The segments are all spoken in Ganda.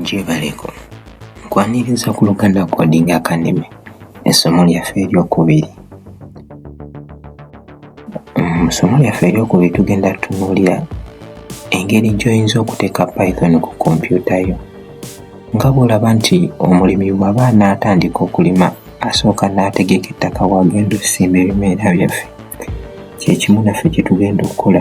gyebaleko nkwaniriza ku luganda coding academy essomo lyaffe eryokubiri mu ssomo lyaffe eryokubiri tugenda tunuulira engeri gy'oyinza okuteeka python ku kompyuta yo nga bw'olaba nti omulimi bw'aba anaatandika okulima asooka n'ategeka ettaka waagenda okusimba ebimera byaffe kyekimu naffe kyetugenda okukola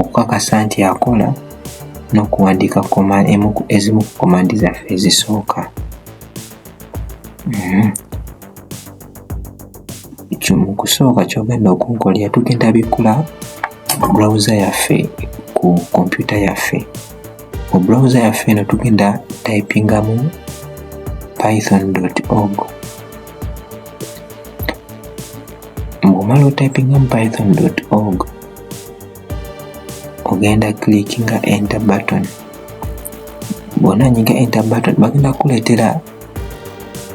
okukakasa nti akola n'okuwandiika ezimu ku komandi zaffe ezisooka mm-hmm. mu kusooka kyogenda okunkolera tugenda bikkula browser yaffe ku kompyuta yaffe mu browser yaffe eno tugenda typingamu python org ng'omala otypingamu python org ogenda clickinga enter button bwona nyiga enter button bagenda kuleetera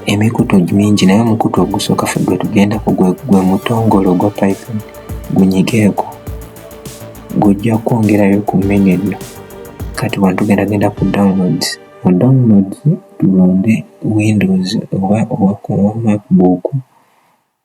emikutu mingi naye omukutu ogusooka fe gwe tugendako gwe mutongole ogwa python gunyigeeko gujja kwongerayo ku mini enno kati wano tugenda genda ku downloads mu downloads tulonde windows oba owa macbook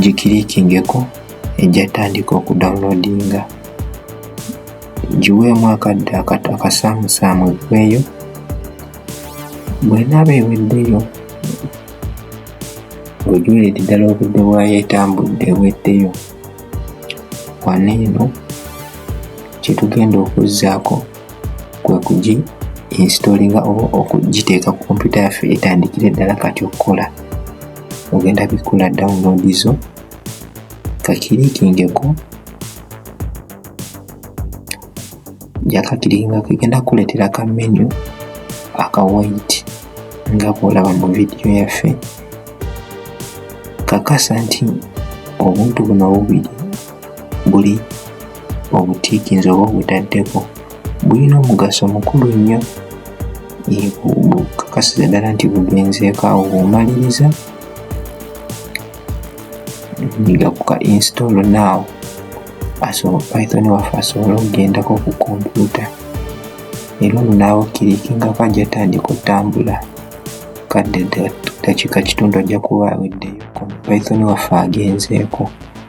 gikirikingeko ejja tandika okudownloadinga giweemu akadde akasaamusaamu eggweyo bwenaaba eweddeyo ng'ojuliridde ddala obudde bwayo etambudde eweddeyo wano eno kyetugenda okuzzaako kwe kugi installinga oba okugiteeka ku kompyuta yaffe etandikira eddala kati okukola ogenda bikula download zo kakirikingeko jakakirikinga kegenda kukuleetera ka menu aka white nga bwolaba mu vidiyo yaffe kakasa nti obuntu buno bubiri buli obutiikinzi oba obutaddeko bulina omugaso mukulu nnyo bukakasiza ddala nti bugenzeeko awo bwomaliriza niga kuka install now asobola python waffe asobole okugendako ku kompyuta era ono naawe okkirikingako ajja tandika otambula kadde dakiika kitundu ajja kuba aweddeyo python waffe agenzeeko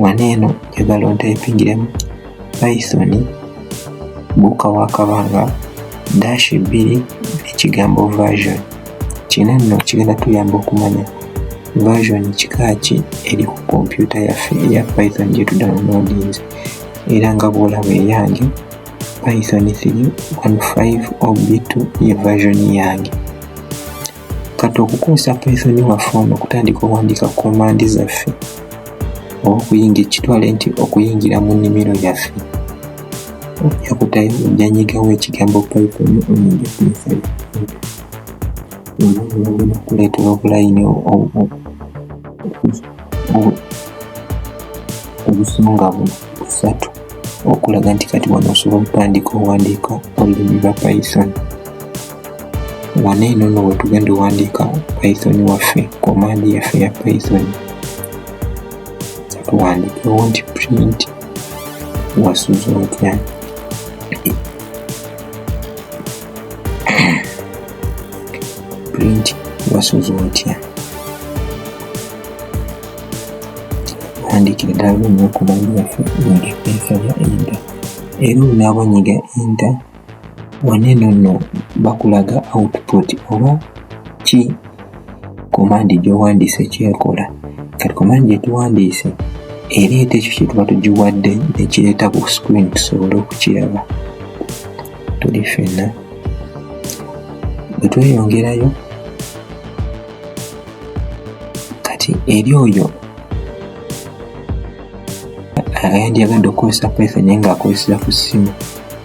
wano eno njagala ontayipingiremu python buuka wakabanga dash bbiri ekigambo version kino nno kigenda tuyamba okumanya version kikaaki eri ku kompyuta yaffe eya python gyetudawunodinze era nga bwolaba eyange python 315 ob2 ye version yange kati okukozesa python waffe ono okutandika owandiika ku komandi zaffe oba okuyingira kitwale nti okuyingira mu nnimiro yaffe ojja kutayo ojanyigawo ekigambo python oyinja python olwobulagena kuleetera obulayini obusonga busatu okulaga nti kati wano osobola okutandika owandiika olulimi lwa python wano eno no wetugenda owandiika python waffe komandi yaffe ya python tuwandikewo nti print wasuza otya print wasuza otya tuwandikire ddala lumu okumandi yaffe nga epeesa ya enda era olunaaba nyiga enda wano eno nno bakulaga output oba ki komandi gyowandiise kyekola kati komandi gyetuwandiise ereeta ekyo kyetuba tugiwadde nekireeta ku screen tusobole okukiraba tuli fenna bwetweyongerayo kati eri oyo ayandyagadde okukozesa python naye ngaakozeseza ku ssimu